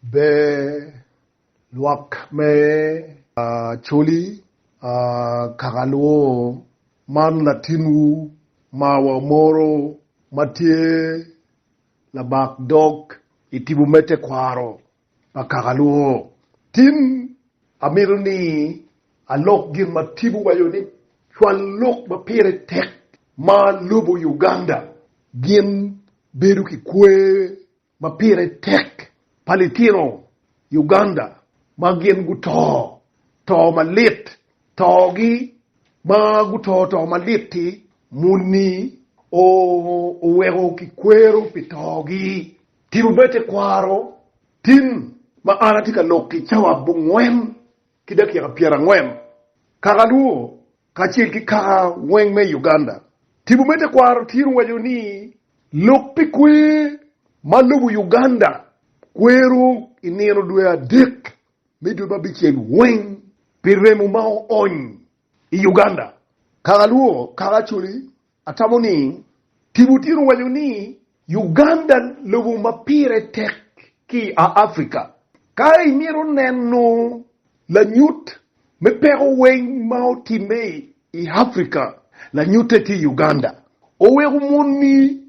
Ber lwak me Acholi Kakalwo man latinwu ma wamoro ma tye labak dog i tipo me tekwaro pa Kakalwo. Tin amito ni alok gin ma tipo waco ni cwal lok ma pire tek ma lobo Uganda gin bedo ki kwer ma pire tek pa litino Uganda ma gin guto to malit. Togi ma guto to malit-ti muni oweko kikwero pi togi. Tipo me tekwaro tin ma an atye ka lok-ki cawa bongwen ki dakika pyerangwen, kaka lwongo, kacel ki kaka weng me i Uganda. Tipo me tekwaro tyen waco ni lok pi kwer ma lobo Uganda kwero i nino dwe adek me dwe ma bicel weng pi remo ma oony i Uganda, kaka lwongo, kaka coli, Atamo ni tipo tye owaco ni Uganda lobo ma pire tek ki i Africa. Ka imito neno lanyut me peko weng ma otimme i Africa, lanyutte tye i Uganda. Oweko moni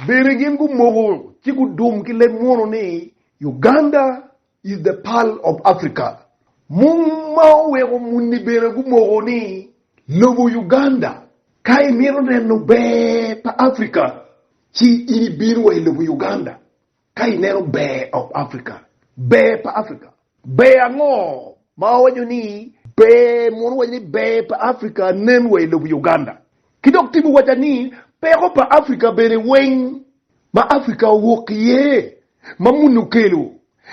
bene gin gumoko ci gudum ki leb munu ni Uganda I The Pearl of Africa, mung ma oweko muni bene gumoko ni, Lobo Uganda, ka imito neno ber pa Africa, ci in ibin wa i lobo Uganda ka ineno ber of Africa, ber pa Africa. Ber ango ma wawaco ni ber mono wawaco ni ber pa Africa nen wa i lobo Uganda? Ki dok timo waca ni peko pa Africa bene weng ma Africa owok iye ma muni okelo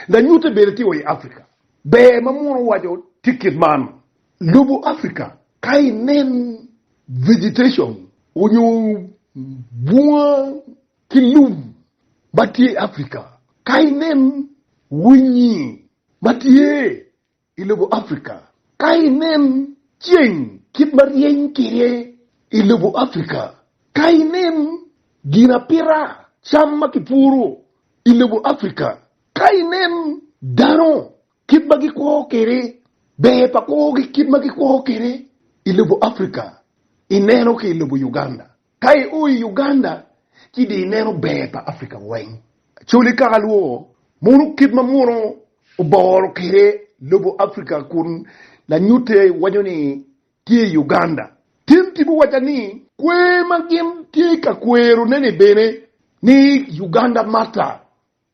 lanyute bene tye wa i Afrika. Ber ma munu owaco tye kit man, Lobo Afrika ka inen vegetation onyo bunga ki lum ma tye i Afrika, ka inen winyi ma tye I lobo Afrika, ka inen ceng kit ma ryeny kwede i lobo Afrika, ka inen ginapita cam ma kipuro i lobo Afrika, ka inen dano kit ma gikwo kwede, ber pa kwogi kit ma gikwo kwede i lobo Afrika, ineno ki i lobo Uganda. Ka i o i Uganda ci di ineno ber pa Africa weng. Acholi kaka lwo mono kit ma mono oboro kwede lobo Africa kun lanyute waco ni tye i Uganda. Tim tipo waca ni kwer ma gin tye ka kwero ne ni bene ni Uganda matter.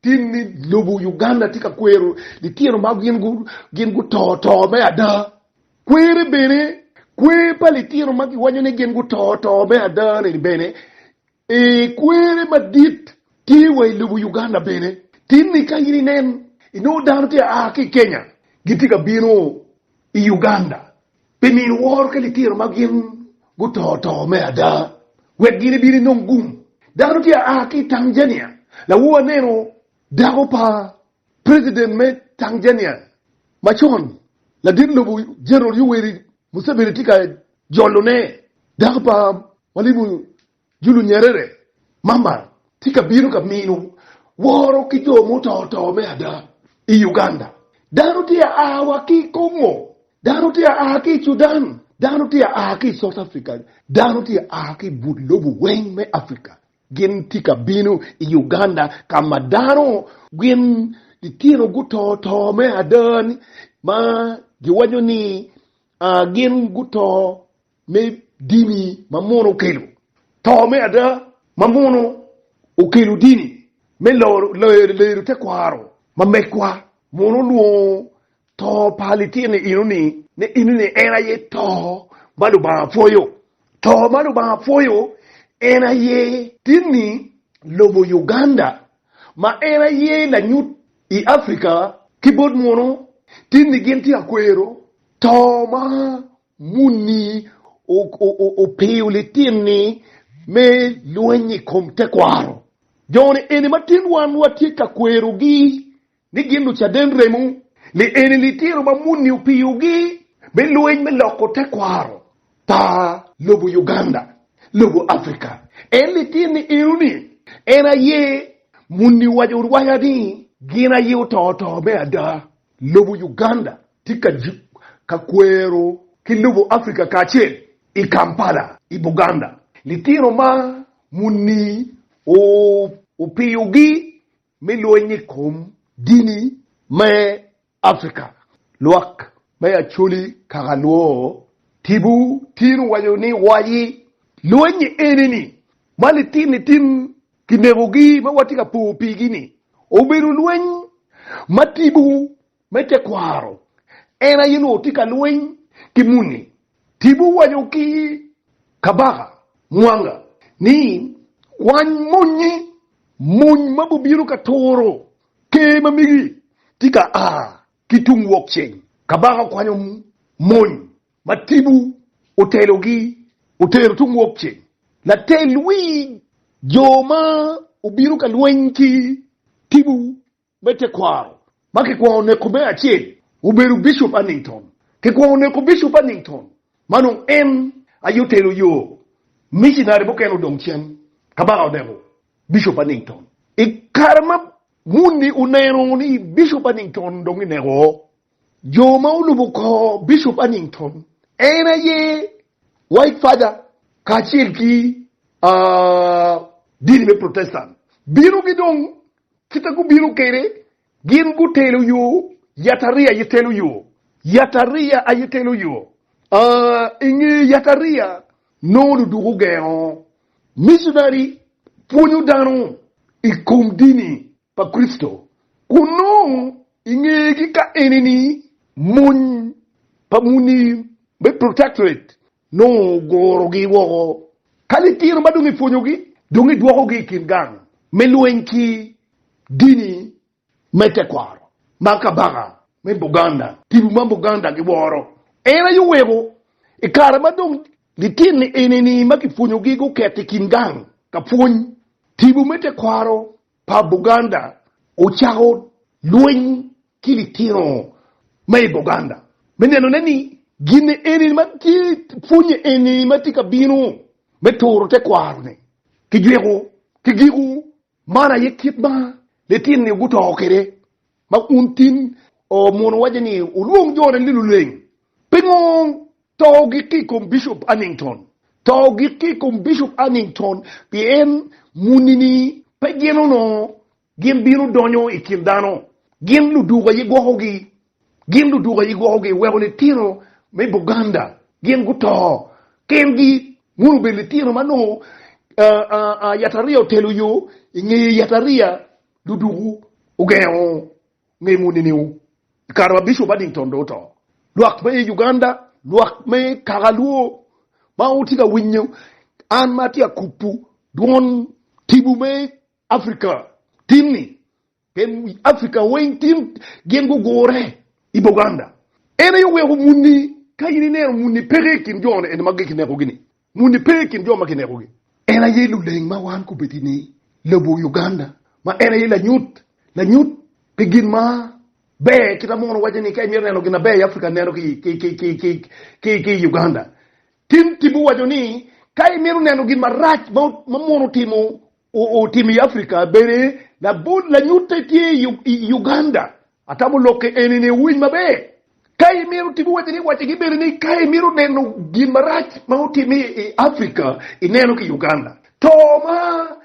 Tim ni lobo Uganda tye ka kwero litino ma gin guto to me ada. Kwere bene, kwer pa litino ma giwaco ni gin guto to me ada ni bene, ee kwere madit tye wa i lobo Uganda bene. Tin ni ka in inen, inongo dano tye ka a ki i Kenya gitye ka bino i Uganda Pi mini woro ka litino ma gin guto to me ada, wek gin ebin enong gum. Dano tye a aa ki i Tanzania. Lawu aneno dako pa president me Tanzania macon, ladit lobo General Yoweri Museveni tye ka jolone. Dako pa mwalimu Julu Nyerere, Mama tye ka bino ka mino woro ki jo muto to me ada i Uganda. Dano tye a aa wa ki i Congo, dano tye a aa ki i Sudan, dano tye a aa ki i South Africa, dano tye a aa ki i but lobo weng me Africa. Gin tye ka bino i Uganda ka ma dano gin litino guto to me ada ni ma giwaco ni gin guto me dini ma mono okelo to me ada, ma mono okelo dini me lero tekwaro ma megwa, mono olwongo to pa litino enoni ni enoni en aye to ma Lubanga pwoyo. To ma Lubanga pwoyo en aye dini lobo Uganda ma en aye lanyut i Africa ki bot mono dini gin tye ka kwero to ma Muni opiyo litini me lweny i kom tekwaro. Jone eni ma tin wan watye ka kwerogi ni gin lucaden remo. Li eni litino ma muni opiyogi me lweny me loko tekwaro pa lobo Uganda, lobo Africa. En litini enoni en aye muni owaco rwaya ni gin aye oto to me ada. Lobo Uganda tye ka jik ka kwero ki lobo Africa kacel. I Kampala i Buganda, litino ma muni opiyogi me lweny i kom dini me Africa. Lwak me Acholi kaka luwo, Tibu tin owaco ni waci lweny enini ma litinitin kinekogi ma watye ka po pigi-ni obedo lweny ma tipo me tekwaro en aye nongo tye ka lweny ki muni. Tipo owaco ki Kabaka Mwanga ni, Kwany mony-nyi, mony ma bubino ka turo ker ma megi tye ka a ki tung wokceng. Kabaka okwanyo mony ma tipo otelogi otero tung wokceng, latel wi jo ma obino ka lweny ki tipo me tekwaro ma kikwongo neko me acel obedo Bishop Annington. Kikwongo neko Bishop Annington ma nongo en aye otelo yo, micinari mukene odong cen. Kabaka oneko Bishop Annington i kare ma muni oneno ni Bishop Annington dong ineko oo. Jo ma olubo kor Bishop Annington en aye White Father kacel ki dini me Protestant bino gi dong kite gubino kwede, gin gutelo yo, Yatariya aye telo yo, Yatariya aye telo yo. I nge Yatariya nongo luduk ogengo missionary pwonyo dano i kom dini. pa Kricito, kun nongo i ngegi ka enini mony pa muni me Protectorate nongo ogorogi woko. Ka litino ma dong ipwonyogi, dong idwokogi i kin gang me lweny ki dini me tekwaro ma kabaka me Buganda, Tibu ma Buganda giworo. En aye oweko i kare ma dong litini enini ma kipwonyogi guket i kin gang ka pwony Tibu me tekwaro pa Buganda ocako lweny ki litino ma i Buganda me nenone ni gin eni ma tye pwonye eni ma tye ka bino me turo tekwaro-ni kijweko ki giku. Man aye kit ma litino-ni guto kwede Ma un tin omono waco ni olwong jone ni luleng. Pingo to gikki i kom Bishop Arnington? To gikki i kom Bishop Arnington pien muni-ni pe gin onongo gin bino donyo i kin dano. Gin luduk aye gwokogi. Gin luduk aye gwokogi. Iweko litino me Buganda gin guto kengi. Munu obedo litino ma onongo yatariya otelo yo i ngeye yatariya. Ludukwu ogengo ngemo niniwu i kare ma Bishop Addington dong oto. Lwak me i Uganda, lwak me kaka Luo ma wutye ka winyo an ma atye ka kubu dwon tibu me Africa tinni, pien Africa weng tin gin gugure i Buganda. En aye oweko muni, ka in ineno muni peke i kin jo eni ma giki nekogi-ni, Muni pe i kin jo ma kinekogi. En aye luleng ma wan kubedi ni lobo Uganda ma en aye lanyut lanyut pi gin ma ber kit ma mono waco ni ka imito neno gin ma ber i Africa neno ki i Uganda. Tim timmi waco ni ka imito neno gin marac ma mono otimo i Africa bene lanyute tye i Uganda. Atamo lokke eni ni wuwinj maber. Ka imito timo wacce ni wacce gi bene ni ka imito neno gin marac ma otime i Africa ineno ki Uganda. To ma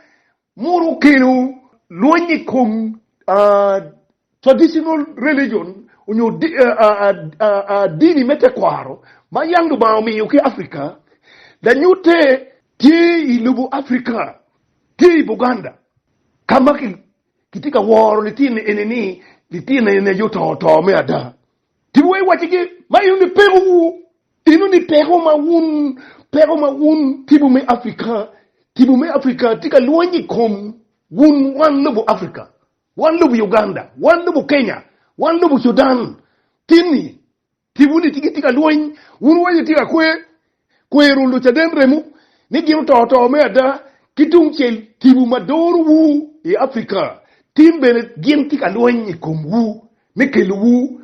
mono okelo lweny i kom traditional religion onyo dini me tekwaro ma yam Lubanga omiyo ki Africa lanyute tye i lobo Africa tye i Buganda ka ma Kitye ka woro litino eni-ni, litino eni aye oto to me ada. Tipo wa iwaccigi, Ma eno ni pekowu, eno ni peko ma wun, peko ma wun tipo me Afrika, tipo me Afrika tye ka lwony i kom wun, wan lobo Afrika, wan lobo Uganda, wan lobo Kenya, wan lobo Sudan, tin-ni Tibu-ni tye gitye ka lweny, wun weny wutye ka kwer, kwero Lucaden remo ni gin oto to me ada. Ki tungcel, tibu ma dorowu i Afrika tin bene gin tye ka lweny i komwu me kelowu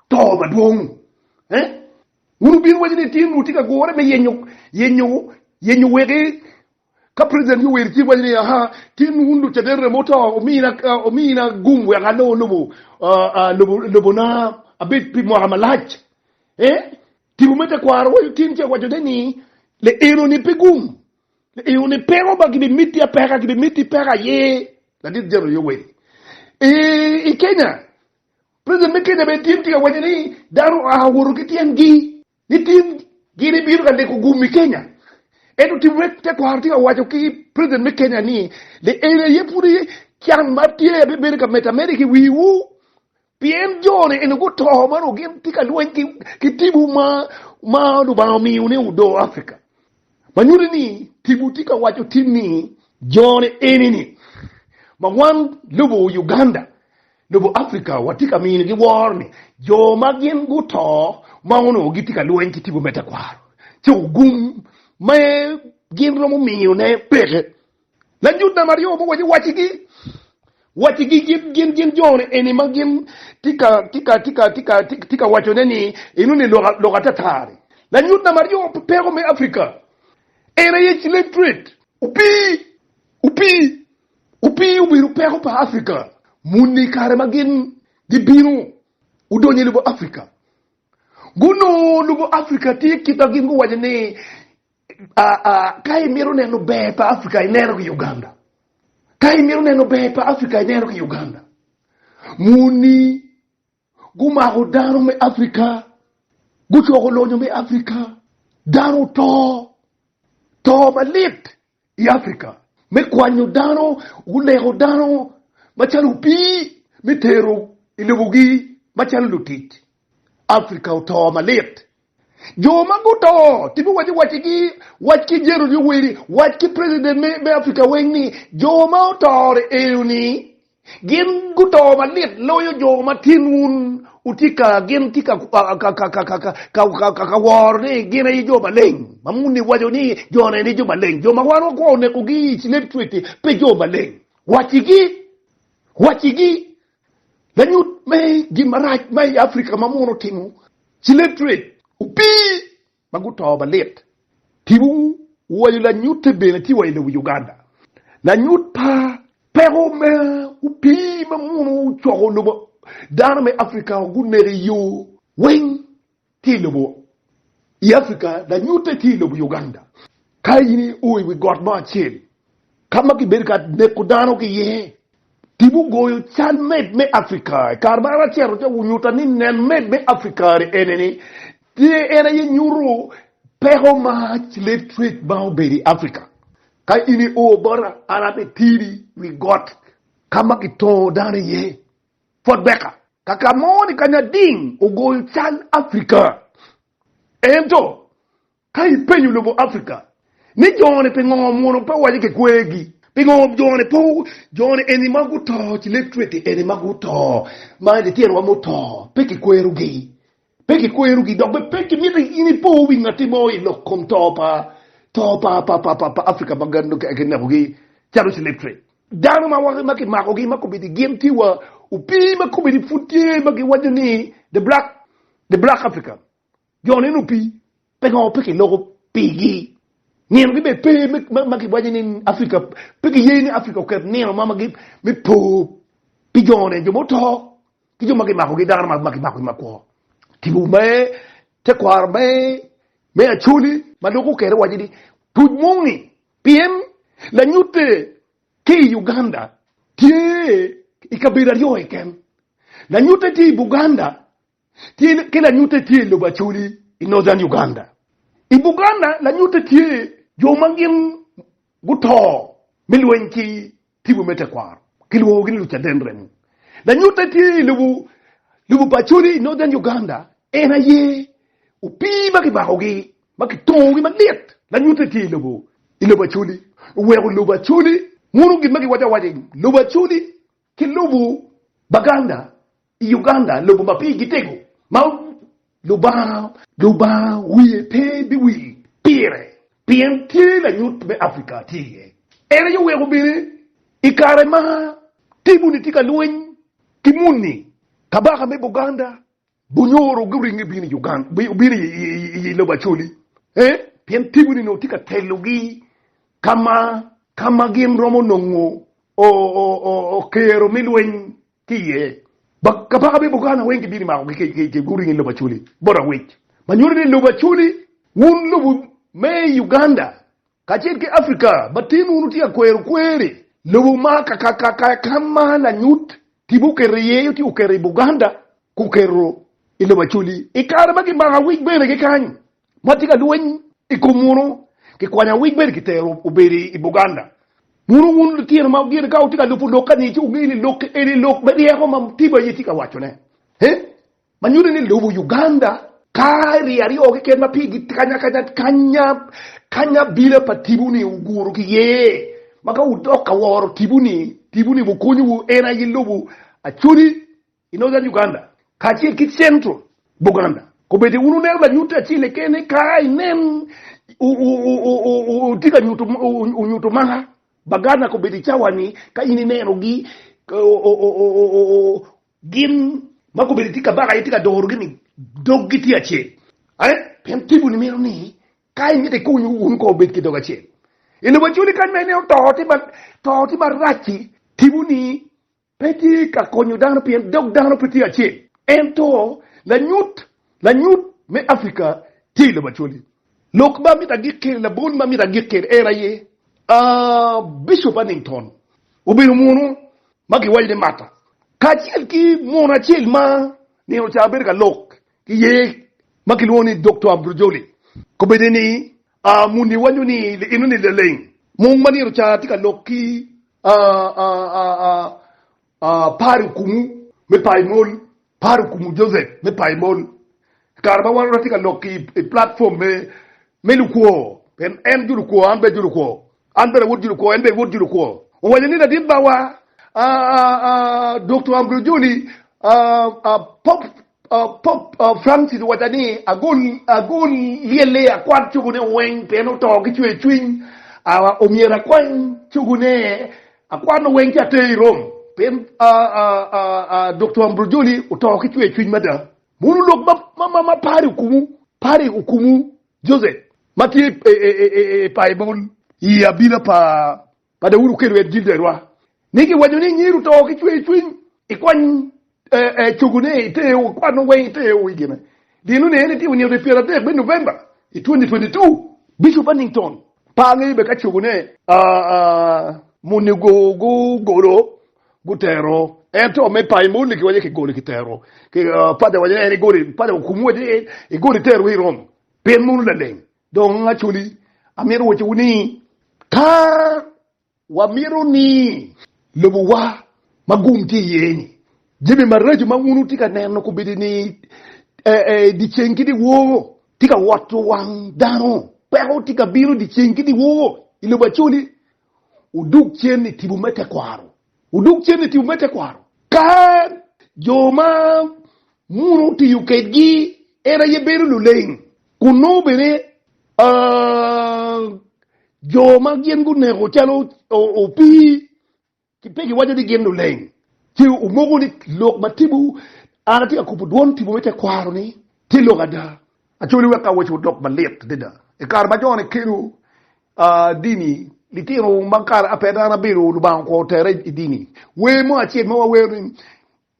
to madwong. Wun wubino waco ni tin wutye ka gure me yenyo wek Ka President Yoweri ci waco ni, Aha, tin wun Lucaden remo oto, omina gum wek alo lobo na abed pi mwaka malac. Eh, tipo me tekwaro waco tin ce waco ne ni, Le eno ni pe gum, le eno ni peko ba gibi miti apeka, gibi miti peko aye, Ladit General Yoweri. I, i Kenya, President me Kenya bene tin tye ka waco ni, dano oa owoto ki tyen gi. ni tin gin ibino ka neko gum i Kenya. Ento tim wek tekwaro tye ka waco ki president me Kenya ni le eni aye pud aye can ma tye aye bedo ka medo ameda ki wii wu pien jo ni eni guto ma nongo gin tye ka lweny ki tibu ma Lubanga omiyo ni odo Africa. ma nyuto ni tipo tye ka waco tin ni jone enini, ma wan lobo Uganda, lobo Africa watye ka minogi woro ni jo ma gin guto ma onongo gitye ka lweny ki tipo me tekwaro ci ogum ma gin romo miyone peke. Lanyutdam aryo mogo waco wacigi, wacigi gin gin joni eni ma gin tye ka wacone ni inongo ni lok atata-ni. Lanyutdam aryo pi peko me Africa en aye slave trade. Opii, opii, opii obedo peko pa Africa muni i kare ma gin gibino gudonyo i lobo Africa. Gunongo lobo Africa tye kit ma gin guwaco ni Ka imito neno ber pa Africa ineno ki Uganda. Ka imito neno ber pa Africa ineno ki Uganda. Muni gumako dano me Africa, gucoko lonyo me Africa, dano oto, to malit i Africa me kwanyo dano, guleko dano macalo opii me tero i lobogi macalo lutic. Africa oto malit. Jo ma guto tye biwaco wacigi, wac ki Gerald Yoweri, wac ki president me Africa weng ni jo ma otore eoni gin guto malit loyo jo ma tin wun wutye ka gin tye ka woro ni gin aye jo maleng ma muni waco ni jo ne ni jo maleng jo ma wan wakwo onekogi i slave trade pe jo maleng wacigi wacigi Lanyut me gin marac ma i Afrika ma muno otimo, Ciletrate opii ma guto malit. Tipo waco lanyutte bene tye wa i lobo Uganda. Lanyut pa peko me opii ma muno ocoko lobo dano me Afrika guneko i yo weng Tye i lobo i Africa, lanyute tye i lobo Uganda. Ka in i o i wi got mo acel ka ma kibedo ka neko dano ki iye, tibu goyo cal med me Africa. I kare ma an acito ca, wunyuta ni nen med me Africa ni eneni, tye en aye nyuto peko ma slave trade ma obedo i Africa. Ka in i o bota, an abitiri i wi got ka ma kitongo dano iye. Fort Baker. Kaka mo ni ka Nyading ogoyo cal Africa. Ento, ka ipenyo lobo Africa ni jone pingo omwono pe owaco ki kwergi? Pingo jone pe jone eni ma guto ci leb cweke eni ma guto ma lityenwa muto pe kikwerogi? Pe kikwerogi, dok bene pe kimito in ipo wi ngatti mo i lok kom to pa to pa pa pa pa pa Africa ma gan nonge kinekogi calo slave trade. Dano ma ma kimakogi ma kobedi gin tye wa opii ma kobedi pud tye ma giwaco ni the black the black African jo nino opii pe ngo pe kiloko pigi nino gi bene pe ma ma kiwaco ni Africa pe kiye ni Africa oket nino ma ma gi me po pi jo ne jo muto ki jo ma kimakogi dano ma kimako i makwo tipo me tekwaro me me acoli ma dok okere waco ni tuc moni pien lanyute ki i Uganda tye i kabedo aryo keken lanyute tye i Buganda tye ki lanyute tye i lobo acoli i Northern Uganda i Buganda lanyute tye jo ma gin guto me lweny ki Tipo me tekwaro kilwongogi ni Lucaden Remo. Lanyutte tye i lobo lobo pa Acholi i Northern Uganda. En aye opii ma kibakogi ma kitongogi malit. Lanyutte tye i lobo i lobo Acholi. Oweko lobo Acholi mono gin ma giwaco awaca i lobo Acholi ki lobo Baganda I Uganda, lobo ma pigi tego ma Lubanga wiye pe biwil pire pien tye lanyut me Afrika tye iye. En aye oweko bene i kare ma Timuni tye ka lweny ki muni, kabaka me Buganda gunyoro guringo gubino i lobo Acholi pien Timuni onongo tye ka telogi ka ma gin romo nongo kero me lweny Ki iye, kabaka me Buganda weng gibino imakogi kec kec kec guringo ilobo Acholi bot Awec ma nyuto ni lobo Acholi wun lobo me Uganda kacel ki Africa ma tin wun wutye ka kwero kweri lobo ma kakakaka ka ma lanyut tibu oketo iye ci oketo i Buganda guketo ilobo Acholi ikare ma gimako Awec bene ki kany. ma tye ka lweny i kom munu kikwanyo awic bene kitero obedo i Buganda. Munu wun litino ma gin ka wutye ka lubo lok kani ci wungeyo ni lok eni lok me ryeko ma Mutim aye tye ka wacone he ma nyuto ni lubo Uganda ka rii aryo keken ma pigi kanyakanya kanya kanya bina pa Tibu ni oguru ki ye ma ka wudok ka woro Tibu ni Tibu ni wukonyowu en aye lubo Acholi I northern Uganda kacel ki central Buganda, kobedo wun wuneno lanyutte acel keken eka inen tye ka nyuto maka. Baganda kobedo i cawa-ni ka in inenogi, gin ma kobedo tye kabaka aye tye ka dorogi ni doggi tye acel. Pien tipo-ni mito ni ka imito ikuny wun kong wubed ki dog acel. I lobo Acholi kany ma ineno to tye marac-ci, tipo-ni Pe tye ka konyo dano pien dog dano pe tye acel, ento lanyut, lanyut, me Afrika tye i lobo Acholi. Lok ma amito agik kene, labol ma amito agik kene en aye, aah, Bishop Hannington obedo munu ma kiwaco ni Martha kacel ki mono acel ma nino ca bedo ka lok ki ye ma kilwongo ni Doktor Ambrojoli, kobedde ni A Muni wanyo ni lienoni leleng mung ma nino ca tye ka lok ki par okumu me paimol, par okumu Joseph me paimol, i kare ma wan watye ka lok ki i platform me lukwo, pien en jolukwo an bene ajolukwo. An bene wod Julukwo, en bene wod Julukwo. Owaco ni, Ladit bawa, Doktor Ambrojoli, Pope Francis owaca ni ago lyelle akwad cogone weng pien oto ki cwer cwiny. Omyero akwany cogone akwanne weng ci ater i Rome pien Doktor Ambrojoli oto ki cwer cwiny mada. Mono lok ma pari okumu, pari okumu Joseph. ma tye i Baibul. I abila pa Daudi oketo en Jilderwa, ni giwaco ni nyiru to ki cwercwiny, ikwany cogone i te o, kwanne weng i te o. I gine dino ni en itimo nino dwe pyera dek me November i 2022, Bishop Annington pe angeyo bene ka cogone moni gugolo gutero en to me Baibul ni kiwaco ki golo kitero. Pader waco ni en igolo, Pader okumo waco ni igolo itero i Rome. Pen mono laleng. Dong Acholi, amito wacciwu ni, ka wamito ni lobowa ma gum tye iye-ni, jami maraco ma wun wutye ka neno kombeddi ni dyeceng ki dyewor tye ka woto wang dano, peko tye ka bino dyeceng ki dyewor i lobo Acholi, wudog cen i tipo me tekwaro. Wudug cente tiwu me tekwaro. Ka jo ma muno otiyo kedgi en aye bedo luleng, kun nongo bene jo ma gin guneko calo opii ki pe giwaco ni gin luleng, ci wumoko ni lok ma tipo, an atye ka kubo dwon tipo me tekwaro-ni tye lok ada. Acholi wek awaci odok malit adada, i kare ma jo nikelo dini, litino ma kare ape dano abedo, Lubanga okwongo otere i dini. Wer mo acel ma wawero ni,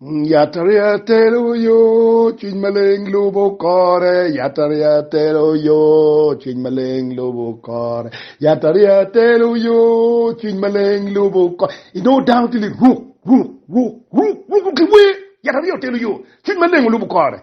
Yatariya tero yo, Cwiny Maleng lubo kore, Yatariya tero yo, Cwiny Maleng lubo kore, Yatariya tero yo, Cwiny Maleng lubo kore. Inongo dano tye liruk ruk ruk ruk ruk ruk ki wer, Yatariya otelo yo, Cwiny Maleng olubo kore.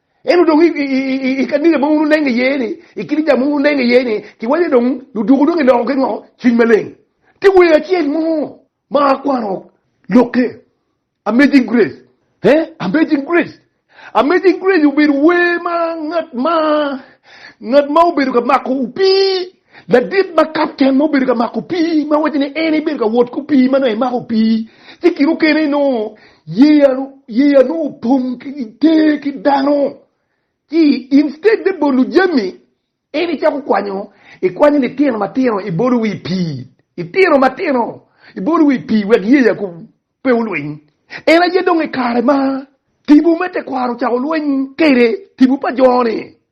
Ento dong i kaniga ma wun wunenge iye ni, i kit jami ma wun wunenge iye ni, kiwaco ni dong luduku dong giloko ki ngo? Cwiny Maleng. Ti wer acel mo ma akwano lokke, Amazing Grace. He, Amazing Grace. Amazing Grace obedo wer ma ngat ma ngat ma obedo ka mako opii. Ladit ma kapten ma obedo ka mako pii ma waco ni en ibedo ka wot ki opii ma nongo emako pii ci kine okene nongo yeya yeya nongo opong ki ter ki dano ci instead me bolo jami en icako kwanyo ikwanyo litino matino ibolo wi pii itino matino ibolo wi pii wek yeya ku pe olwiny en aye dong i kare ma tipo me tekwaro ocako lweny kwede tipo pa jo-ni.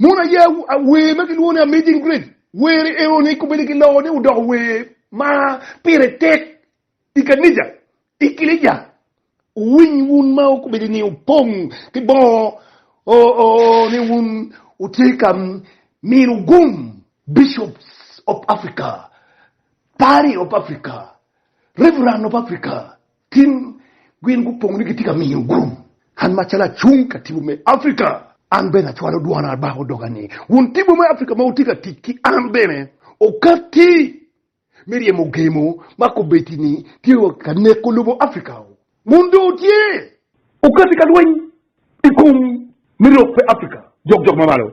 Mon aye wer ma kilwongo ni Amazing Grace. Wer enoni kombeddi kiloko ni odoko wer ma pire tek I kanija, i kilica, wuwiny wun ma wukobedo ni wupong ki bongo ni wun wutye ka mino gum, Bishops of Africa, Pari of Africa, Reverend of Africa, tin gin gupong ni gitye ka mino gum. An macalo acung ka tipo me Africa, an bene acwalo dwona bako doga ni wun tipo me Africa ma wutye ka tic ki an bene, wukatti me ryemo gemo ma kobeddi-ni tye wa ka neko lobo Afrika-u, kun dong tye. Okati ka lweny i kom me rok pe Afrika jok jok ma malo.